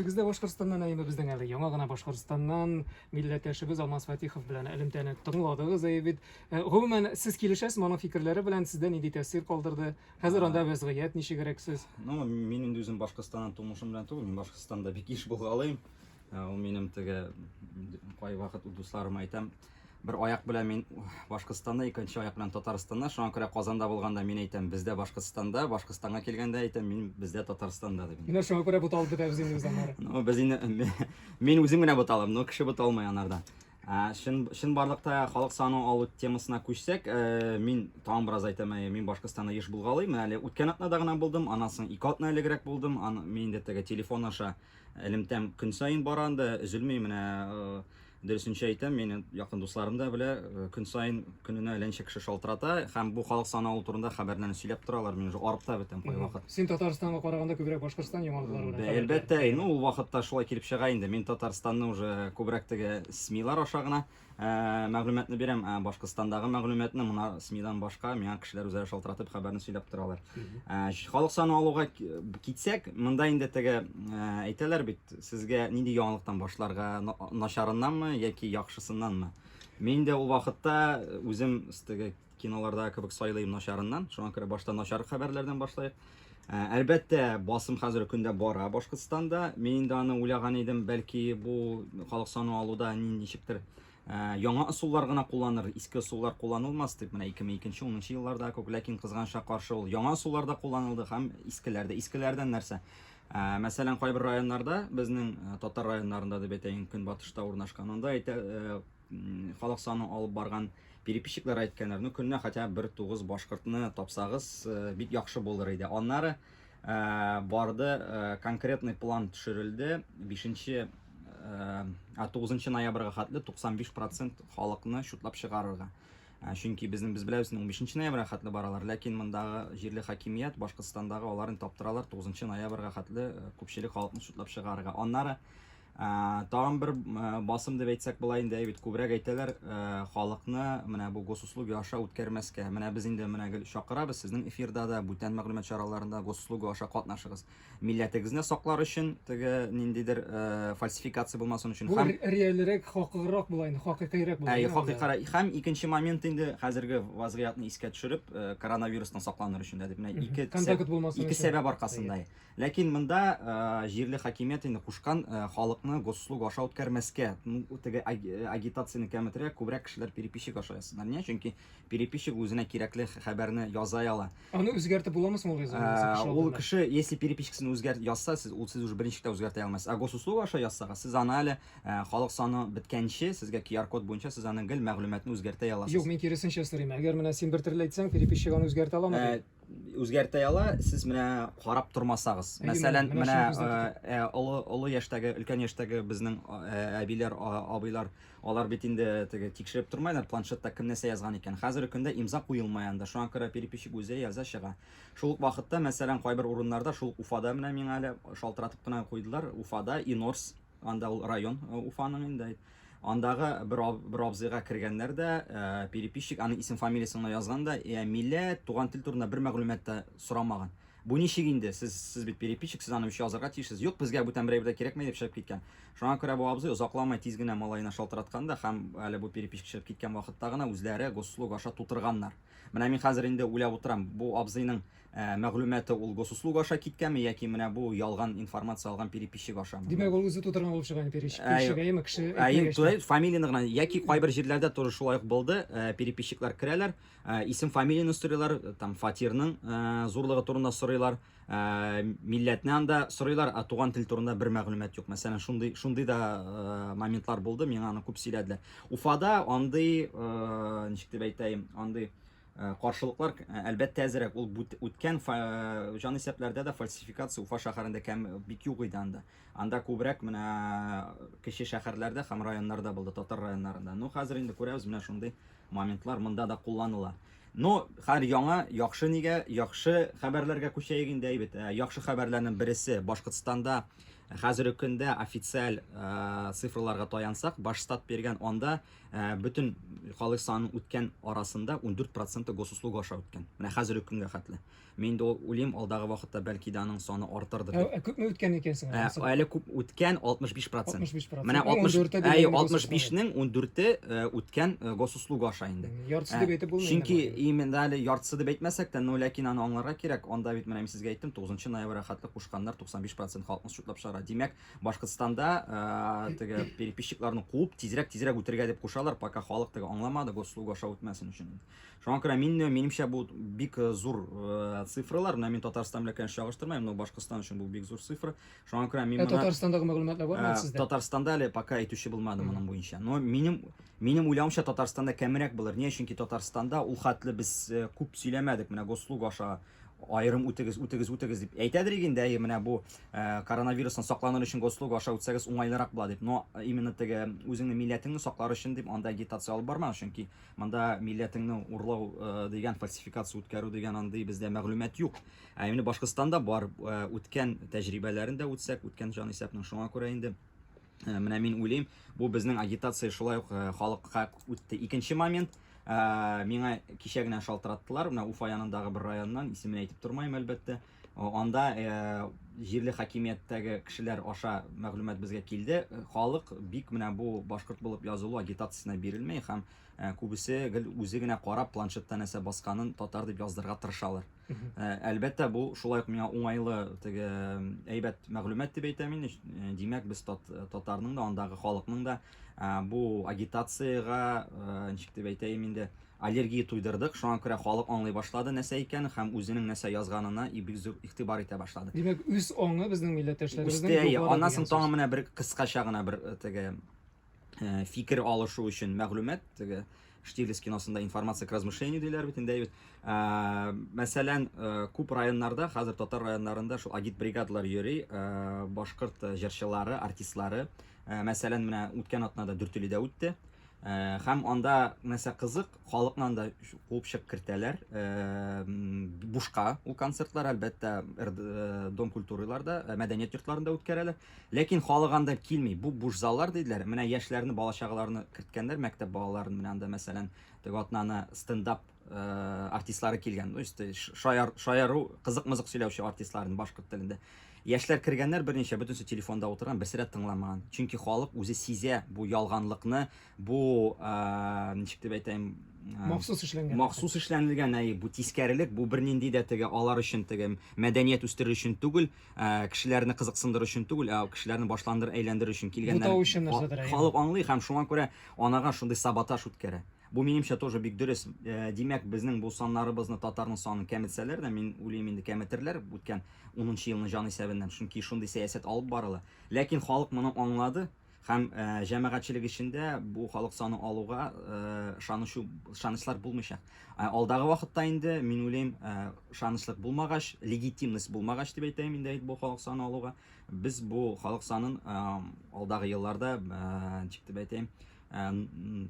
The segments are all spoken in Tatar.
Без дә Башкортстаннан, әйеме безнең әле яңа гына Башкортстаннан милләттәшебез Алмаз Фатихов белән элемтәне тыңладыгыз, әйе бит. Э, гомумән, сез килешәсезме аның фикерләре белән, сездә нинди тәэсир калдырды? Хәзер анда вәзгыять ничегрәк сез? Ну, мин инде үзем Башкортстаннан тумышым белән түгел, мин Башкортстанда бик еш булгалыйм. Ә, Ул минем теге кай вакыт дусларыма әйтәм, Бер аяк белән мин Башкортстанда, икенче аяк белән Татарстанда. Шуңа күрә Казанда булганда мин әйтәм, бездә Башкортстанда, Башкортстанга килгәндә әйтәм, мин бездә Татарстанда дип. Менә шуңа күрә буталып бетәбез инде без аннары. Ну, без инде мин үзем генә буталам, но кеше буталмый анарда. Шын шын барлыкта халык саны алу темасына күчсәк, э, мин тагын бераз әйтәм, э, мин Башкортстанда еш булгалый, менә әле үткән атнада гына булдым, аннан соң ике атна элегрәк булдым. Аны мин инде теге телефон аша элемтәм көн саен бара анда, өзелми менә э, Дөресенчә әйтәм, мені якын дусларым да белә, э, көн сайын көненә әләнчә кеше шалтырата һәм бу халык саналу турында хәбәрләрне сөйләп торалар. Мин уже арып та бетәм кай вакыт. Син Татарстанга караганда күбрәк Башкортстан яңалыклары белән. Бә, әлбәттә, ну ул вакытта шулай килеп чыга инде. Мин Татарстанны уже күбрәк теге СМИлар аша гына э, мәгълүматны бирәм. Ә Башкортстандагы мәгълүматны мына СМИдан башка миңа кешеләр үзләре шалтыратып хәбәрне сөйләп торалар. Э, Халык саналуга китсәк, монда инде теге э, әйтәләр бит, Сезгә нинди яңалыктан башларга, начарыннанмы яки яхшысыннанмы? Мин дә ул вакытта үзем теге киноларда кебек сайлыйм начарыннан. Шуңа күрә башта начар хәбәрләрдән башлыйк. Ә, Әлбәттә, басым хәзерге көндә бара Башкортстанда. Мин инде аны уйлаган идем, бәлки бу халык саны алуда ни- ничектер ә, яңа ысуллар гына кулланыр, иске ысуллар кулланылмас дип, менә 2002-10 елларда күп, ләкин кызганча каршы ул яңа ысуллар да кулланылды һәм искеләр дә. Искеләрдән нәрсә? Ә, мәсәлән, кайбер районнарда, безнең э, татар районнарында дип әйтәйен, көнбатышта урнашкан, анда әйтә, э, халык саны алып барган переписчиклар әйткәннәр, ну көненә хотя бер тугыз башкортны тапсагыз, э, бик яхшы булыр иде. Аннары барды, конкретный план төшерелде, 5 9 ноябрьгә хәтле 95% халыкны шутлап чыгарырга. Ә, чөнки безнең без беләбез, 15 ноябрьгә хәтле баралар, ләкин мондагы җирле хакимият Башкортстандагы аларын таптыралар 9 ноябрьгә хәтле э, күпчелек халыкны судлап чыгарырга. Аннары ә, тагын бер э, басым дип әйтсәк була инде, әйбит күбрәк әйтәләр, э, халыкны менә бу госуслуги аша үткәрмәскә. Менә без инде менә гел чакырабыз, сезнең эфирда да, бүтән мәгълүмат чараларында госуслуги аша катнашыгыз. милләтегезне саклар өчен, теге ниндидер фальсификация булмасын өчен. Һәм реальрәк, хакыграк була инде, хакыйкыйрәк була. Әй, хакыйкыйрәк. Һәм икенче момент инде хәзерге вазгыятны искә төшереп, коронавирустан сакланыр өчен дә дип менә ике контакт булмасын. Ике сәбәп аркасында. Ләкин монда җирле хакимият инде кушкан халыкны госслуг аша үткәрмәскә, теге агитацияне кәметрәк, күбрәк кешеләр переписчик аша язсыннар. Ниә? Чөнки переписчик үзенә кирәкле хәбәрне яза ала. Аны үзгәртеп буламы соң ул резолюция? Ул кеше, если перепискасын үзгәрт язса, сез ул сез уже берничек тә үзгәртә алмассыз. Ә госуслуга аша язсагыз, сез аны әле халык саны беткәнче, сезгә QR-код буенча сез аны гел мәгълүматны үзгәртә аласыз. Юк, мин киресенчә сорыйм. Әгәр менә син бер төрле әйтсәң, переписчик аны үзгәртә аламы? Үзгәртә ала, сез менә карап тормасагыз. Мәсәлән, менә олы яшьтәге, өлкән яшьтәге безнең әбиләр, абыйлар Алар бит инде теге тикшереп тормайлар, планшетта кем нәрсә язган икән. Хәзерге көндә имза куелмый анда, шуңа күрә переписчик үзе яза чыга. Шул ук вакытта, мәсәлән, кайбер урыннарда, шул ук Уфада менә миңа әле шалтыратып кына куйдылар, Уфада Инорс, анда ул район Уфаның инде, андагы бер бер абзыйга кергәннәр дә, переписчик аның исем-фамилиясен генә язган да, йә милләт, туган тел турында бер мәгълүмат та сорамаган. Бу ничек инде, сез, сез бит переписчик, сез аны үчи язарга тиешсез. Юк, безгә бүтән берәү дә кирәкмәй, дип чыгып киткән. Шуңа күрә бу абзый озакламый тиз генә малаена шалтыраткан да һәм әле бу переписчик чыгып киткән вакытта гына үзләре госуслуг аша тутырганнар. Менә мин хәзер инде уйлап утырам, бу абзыйның мәгълүматы ул госуслуг аша киткәнме яки менә бу ялган информация алган переписчик ашамы? Димәк, ул үзе тутырган булып чыга инде переписчик, переписчик, әйеме, кеше әйтмәгәч тә. Әйе, фамилияне гына, яки кайбер җирләрдә тоже шулай ук булды, переписчиклар керәләр, Э, исем фамилияны сорыйлар э, там фатирның э, зурлыгы турында сорыйлар милләтне анда сорыйлар а туган тел турында бер мәгълүмат юк мәсәлән шундый шундый да моментлар булды миңа аны күп сөйләделәр уфада андый ничек дип әйтәем андый каршылыклар әлбәттә әзерәк ул үткән җан исәпләрдә дә фальсификация уфа шәһәрендә кәм бик юк иде анда анда күбрәк менә кече шәһәрләрдә һәм районнарда булды татар районнарында ну хәзер инде күрәбез менә шундый Моментлар монда да кулланыла. Ну, хәер яңа, яхшы нигә, яхшы хәбәрләргә күчәек инде әйбет. Ә, яхшы хәбәрләрнең бересе, Башкортстанда хәзерге көндә официаль ә, цифрларга таянсак, Башстат биргән анда ә, бөтен халык санының үткән арасында 14% госуслуга аша үткән. Менә хәзерге көнгә хәтле. Мин инде ул үлим, алдагы вакытта бәлки дә аның саны артырдыр Ә, дип. ә күпме үткән икән соң? Ә, анысы? әле күп үткән 65 процент. 65 процент. Менә 60, 14-е әйе, дигәнне 65-нең 14-е э, үткән э, госуслуга аша инде. М, Яртысы Ә, дип әйтеп булмый. Чөнки инде моны. именно әле яртысы дип әйтмәсәк тә, но ләкин аны аңларга кирәк. Анда бит менә мин сезгә әйттем, 9 ноябрьгә хәтле кушканнар 95 процент халыкны счетлап чыгара. Димәк, Башкортстанда э, теге переписчикларны куып, тизрәк-тизрәк үтергә дип кушалар, пока халык теге аңламады, госуслуга аша үтмәсен өчен. Шуңа күрә мин, минемчә, бу бик э, зур э, цифралар. Менә мин Татарстан белән конечно чагыштырмыйм, но Башкортстан өчен бу бик зур цифра. Шуңа күрә мин Ә моны Татарстандагы мәгълүматлар бармы э, сездә? Татарстанда әле пока әйтүче булмады моның буенча. Но минем минем уйлавымча Татарстанда кәмерәк булыр. Ни өчен ки Татарстанда ул хәтле без э, күп сөйләмәдек. Менә Гослуг аша айрым үтегез, үтегез, үтегез дип әйтәдер иген дә, менә бу э, коронавирустан сакланыр өчен гослуг аша үтсәгез уңайлырак була дип. Но э, именно теге үзеңнең милләтеңне саклар өчен дип анда агитация алып бармагыз, чөнки Монда милләтеңне урлау дигән фальсификация үткәрү дигән андый бездә мәгълүмат юк. Ә инде Башкортстанда бар үткән тәҗрибәләрен дә үтсәк, үткән җан исәпнең шуңа күрә инде менә мин уйлыйм, бу безнең агитация шулай ук халыкка үтте. Икенче момент, миңа кичә генә шалтыраттылар, менә Уфа янындагы бер районнан, исемен әйтеп тормыйм, әлбәттә. Анда җирле хакимияттәге кешеләр аша мәгълүмат безгә килде, халык бик менә бу башкорт булып язылу агитациясенә бирелми һәм күбесе гел үзе генә карап планшетта нәрсә басканын татар дип яздырырга тырышалар. Әлбәттә, бу шулай ук миңа уңайлы, теге әйбәт мәгълүмат дип әйтәм мин. Димәк, без татарның да, андагы халыкның да бу агитациягә, ничек дип әйтәем инде, Аллергия туйдырдык, шуңа күрә халык аңлый башлады нәсә икәнен һәм үзенең нәсә язганына и бик зур игътибар итә башлады. Димәк, үз аңы безнең милләттәшләребезнең Үсте, әйе. югары Аннан соң дигән тагын сүз. менә бер кыскача гына бер э, теге э, фикер алышу өчен мәгълүмат, теге Штирлиц киносында информация к размышлению диләр бит инде әйбит. Э, Мәсәлән, э, күп районнарда, хәзер татар районнарында шул агитбригадалар йөри, э, башкорт э, җырчылары, артистлары. Э, Мәсәлән, менә үткән атнада Дүртөйледә үтте. Э, һәм анда нәрсә кызык халыкнан да куып чыгып кертәләр э, бушка ул концертлар әлбәттә э, дом культураларда мәдәният йортларында үткәрәләр ләкин халык анда килми бу буш заллар диделәр менә яшьләрне бала чагаларны керткәннәр мәктәп балаларын менә анда мәсәлән теге атнаны стендап Э, артистлары килгән ну işte шаяр шаяру кызык мызык сөйләүче артистларын башкорт телендә яшьләр кергәннәр берничә бөтенесе телефонда утырган берсе дә тыңламаган чөнки халык үзе сизә бу ялганлыкны бу э, ничек дип әйтәм э, махсус эшләнгән махсус эшләнелгән әй бу тискәрелек бу бернинди дә теге алар өчен теге мәдәният үстерер өчен түгел кешеләрне кызыксындыру өчен түгел ә кешеләрне башландыр әйләндерер өчен килгәннәр халык аңлый һәм шуңа күрә анага шундый саботаж үткәрә Бу минемчә тоже бик дөрес. Димәк, безнең бу саннарыбызны татарның санын кәметсәләр дә, мин уйлыйм инде кәметерләр үткән унынчы елны җан исәбеннән, чөнки шундый сәясәт алып барыла. Ләкин халык моны аңлады һәм җәмәгатьчелек эчендә бу халык саны алуга ышанычу, ышанычлар булмыйчак. Алдагы вакытта инде, мин уйлыйм, ышанычлык булмагач, легитимность булмагач дип әйтәем инде бу халык саны алуга, без бу халык санын алдагы елларда ничек дип әйтәем,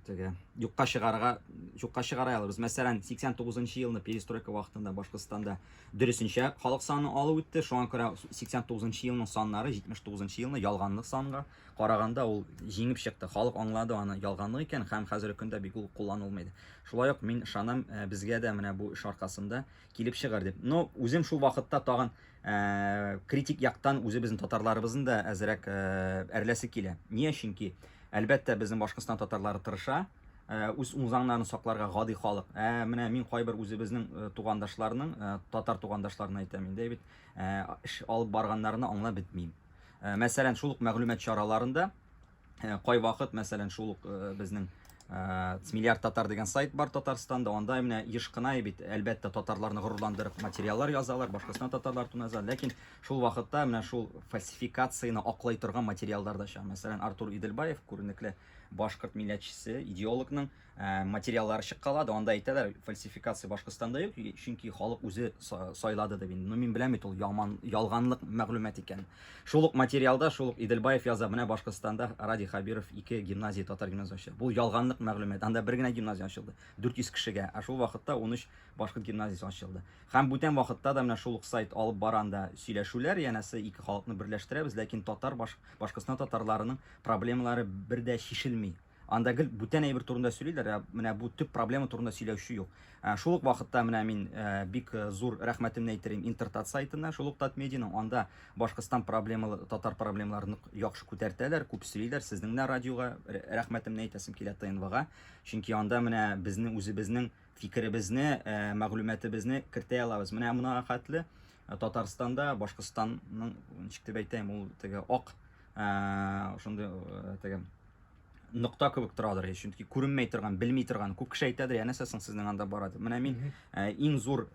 теге юкка чыгарга юкка чыгара алабыз. Мәсәлән, 89 нчы елны перестройка вакытында Башкортстанда дөресенчә халык саны алу үтте. Шуңа күрә 89 нчы елның саннары 79 нчы елны ялганлык санга караганда ул җиңеп чыкты. Халык аңлады аны ялганлык икән һәм хәзерге көндә бик ул кулланылмый. Шулай ук мин ышанам, безгә дә менә бу эш аркасында килеп чыгар дип. Но үзем шул вакытта тагын э, критик яктан үзебезнең татарларыбызны да әзрәк э, әрләсе килә. Нигә? Чөнки әлбәттә безнең Башкортстан татарлары тырыша, э, үз унзаңнарын сакларга гади халык. Ә менә мин кайбер үзебезнең э, тугандашларның, э, татар тугандашларына әйтәм инде бит, э, эш алып барганнарны аңлап бетмим. Э, мәсәлән, шул ук мәгълүмат чараларында Кайвакыт, мәсәлән, шул ук безнең Миллиард татар дигән сайт бар Татарстанда, анда менә еш кына бит, әлбәттә, татарларны горурландырып материаллар язалар, башкасына татарлар турында язалар, ләкин шул вакытта менә шул фальсификацияне аклай торган материаллар да чыга. Мәсәлән, Артур Идельбаев, күренекле башкорт милләтчесе, идеологның Ә, материаллары чыккалады, анда әйтәләр, фальсификация Башкортстанда юк, чөнки халык үзе сайлады дип инде. Ну, мин беләм бит ул яман, ялганлык мәгълүмат икән. Шул ук материалда, шул ук Иделбаев яза, менә Башкортстанда Ради Хабиров ике гимназия, татар гимназия ачты. Бу ялганлык мәгълүмат. Анда бер генә гимназия ачылды, 400 кешегә, ә шул вакытта 13 башкорт гимназиясе ачылды. Һәм бүтән вакытта да менә шул ук сайт алып баранда сөйләшүләр, янәсе ике халыкны берләштерәбез, ләкин татар Башкортстан татарларының проблемалары бер дә чишелми. Анда гел бүтән әйбер турында сөйлиләр, ә менә бу төп проблема турында сөйләүче юк. Ә, шул ук вакытта менә мин ә, бик э, зур рәхмәтемне әйтерим Интертат сайтына, шул ук Татмедианың анда Башкортстан проблемалы, татар проблемаларын яхшы күтәртәләр, күп сөйлиләр. Сезнең дә радиога рәхмәтемне әйтәсем килә ТНВга, чөнки анда менә безнең үзебезнең фикеребезне, ә, мәгълүматыбызны кертә алабыз. Менә моңа хәтле э, Татарстанда, Башкортстанның, ничек дип әйтәм, ул теге ак, ошондый теге нокта кебек торадыр һич чөнки күренмәй торган белми торган күп кеше әйтәдер янәсе соң сезнең анда бара дип менә мин ә, иң зур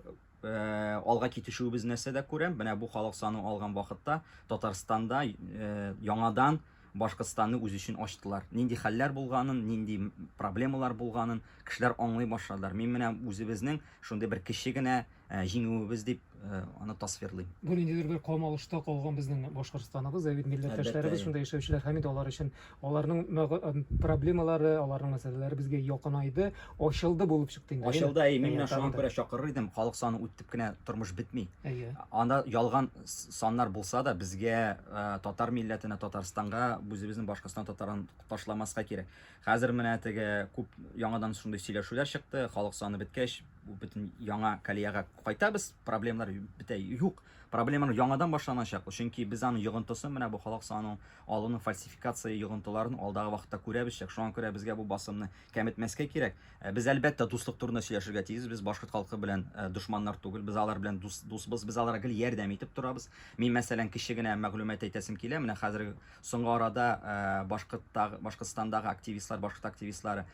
ә, алга китешүебез нәрсәдә күрәм менә бу халык саны алган вакытта татарстанда ә, яңадан башкортстанны үз өчен ачтылар нинди хәлләр булганын нинди проблемалар булганын кешеләр аңлый башладылар мин менә үзебезнең шундый бер кече генә Ә, җиңүебез дип э, аны тасвирлыйм. Бу ниндидер бер камалышта калган безнең Башкортстаныбыз, ә бит милләттәшләребез шунда яшәүчеләр һәм инде алар өчен аларның э, проблемалары, аларның мәсьәләләре безгә якынайды, ачылды булып чыкты инде. Ачылды, әй, мин менә шуңа күрә чакырыр идем, халык саны үттеп кенә тормыш бетми. Әйе. Анда ялган саннар булса да, безгә э, татар милләтенә, Татарстанга, үзебезнең Башкортстан татарын ташламаска кирәк. Хәзер менә теге күп яңадан шундый сөйләшүләр чыкты, халык саны беткәч, бөтен яңа колеяга кайтабыз, проблемалар бетә юк. Проблеманы яңадан башланачак, чөнки без аны йогынтысын менә бу халык санын алуның фальсификация йогынтыларын алдагы вакытта күрәбезчәк. Шуңа күрә безгә бу басымны кәметмәскә кирәк. Э, без әлбәттә дуслык турында сөйләшергә тиеш. Без башкорт халкы белән э, дошманнар түгел. Без алар белән дус, дусбыз. Без аларга гел ярдәм итеп торабыз. Мин мәсәлән кеше генә мәгълүмат әйтәсем килә. Менә хәзер Соңгы арада Башкортстандагы активистлар, башкорт активистлары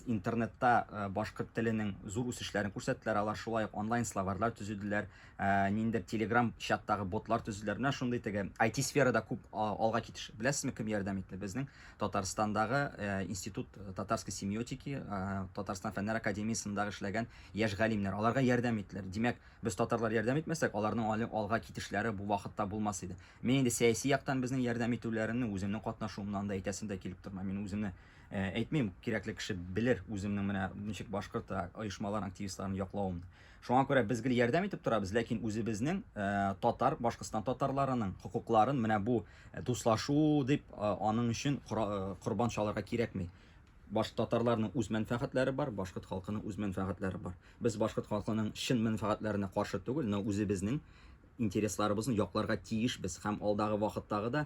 интернетта башкорт теленең зур үсешләрен күрсәттеләр. Алар шулай ук онлайн словарьлар төзеделәр, ниндер Telegram чаттагы ботлар төзеделәр. Менә шундый теге IT-сферада күп алга китеш. Беләсезме, кем ярдәм итте? Безнең Татарстандагы Институт татарской семиотики, Татарстан фәннәр академиясендә эшләгән яшь галимнәр. Аларга ярдәм иттеләр. Димәк, без татарлар ярдәм итмәсәк, аларның алга китешләре бу вакытта булмас иде. Мин инде сәяси яктан безнең ярдәм итүләрне үземнең катнашуымнан да әйтәсем дә килеп тормый. Мин үземне э, әйтмим, кирәкле кеше белер үземнең менә ничек башкорт э, оешмалар активистларын яклавым. Шуңа күрә без гел ярдәм итеп торабыз, ләкин үзебезнең э, татар, Башкортстан татарларының хокукларын менә бу дуслашу дип аның өчен корбан чалырга кирәкми. Баш татарларның үз мәнфәгатьләре бар, башкорт халкының үз мәнфәгатьләре бар. Без башкорт халкының чын мәнфәгатьләренә каршы түгел, но үзебезнең Интересларыбызны якларга тиешбез һәм алдагы вакыттагы да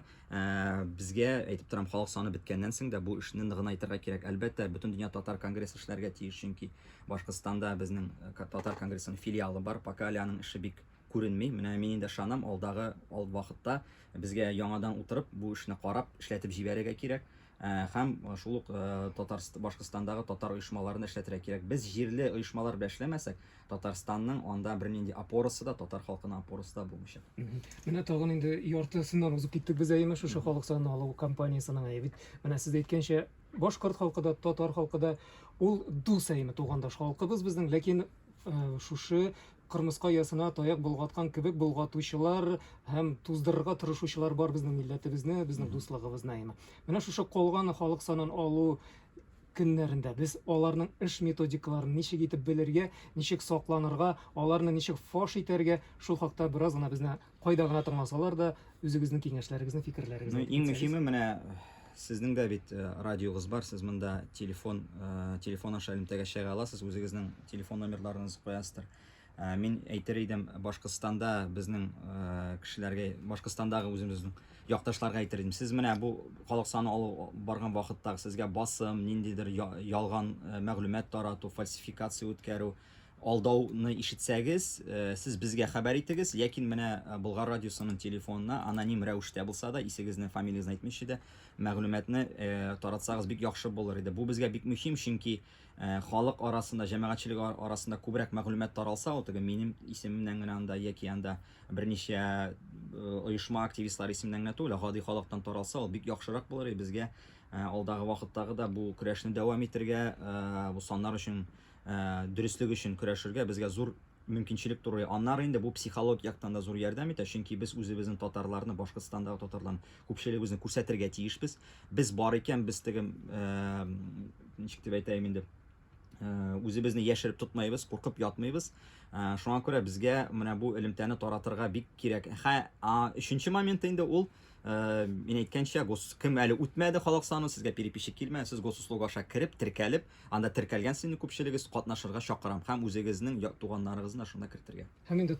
безгә, әйтеп торам, халык саны беткәннән соң да бу эшне ныгынайтырга кирәк. Әлбәттә, Бөтендөнья татар конгрессы эшләргә тиеш, чөнки Башкортстанда безнең татар конгрессының филиалы бар. Пока әле аның эше бик күренми. Менә мин инде ышанам, алдагы вакытта безгә яңадан утырып, бу эшне карап, эшләтеп җибәрергә кирәк. Һәм шул ук Татарстан, Башкортстандагы татар оешмаларны эшләтергә кирәк. Без җирле оешмалар белән эшләмәсәк, Татарстанның анда бернинди опорасы да, татар халкының опорасы да булмыйчак. Менә тагын инде яртысыннан узып киттек без әйеме шушы халык санын алу кампаниясенең әйе бит. Менә сез әйткәнчә, башкорт халкы да, татар халкы да ул дус әйеме тугандаш халкыбыз безнең, ләкин шушы Кырмыска оясына таяк болгаткан кебек болгатучылар һәм туздырырга тырышучылар бар безнең милләтебезне, безнең дуслыгыбызны әйме. Менә шушы калган халык санын алу көннәрендә без аларның эш методикаларын ничек итеп белергә, ничек сакланырга, аларны ничек фаш итәргә, шул хакта бераз гына безне Кайда гына тыңласалар да, үзегезнең киңәшләрегезне, фикерләрегезне. Ну, иң мөһиме менә сезнең дә бит э, радиогыз бар, сез монда телефон э, телефон аша элемтәгә чыга аласыз, үзегезнең телефон номерларыгызны куясыздар. Э, мин әйтер идем, Башкортстанда безнең кешеләргә, Башкортстандагы үзебезнең якташларга әйтер идем. Сез менә бу халык саны алу барган вакытта сезгә басым, ниндидер ялган мәгълүмат тарату, фальсификация үткәрү, Алдауны ишетсәгез, сез безгә хәбәр итегез, ләкин менә Болгар радиосының телефонына аноним рәвештә булса да, исегезне, фамилиясен әйтмичә дә, мәгълүматны таратсагыз бик яхшы булыр иде. Бу безгә бик мөһим, чөнки халык арасында, җәмәгатьчелек арасында күбрәк мәгълүмат таралса, ул теге минем исемемнән генә анда яки анда берничә оешма активистлары исеменнән генә түгел, гади халыктан таралса, ул бик яхшырак булыр иде безгә. Алдагы вакыттагы да бу көрәшне дәвам итергә, бу саннар өчен Дөреслек өчен көрәшергә безгә зур мөмкинчелек турый. Аннары инде бу психологик яктан да зур ярдәм итә, чөнки без үзебезнең татарларны, Башкортстандагы татарларны, күпчелегебезне күрсәтергә тиешбез. Без бар икән, без теге, ничек дип әйтәем инде, үзебезне яшереп тотмыйбыз, куркып ятмыйбыз. Шуңа күрә безгә менә бу элемтәне таратырга бик кирәк. Хә, а, өченче моменты инде ул, мин әйткәнчә, гос, кем әле үтмәде халык санын, сезгә переписчик килмәде, сез госуслуг аша кереп, теркәлеп, Анда теркәлгән сыйныф күпчелегез катнашырга чакырам һәм үзегезнең туганнарыгызны да шунда кертергә. Һәм инде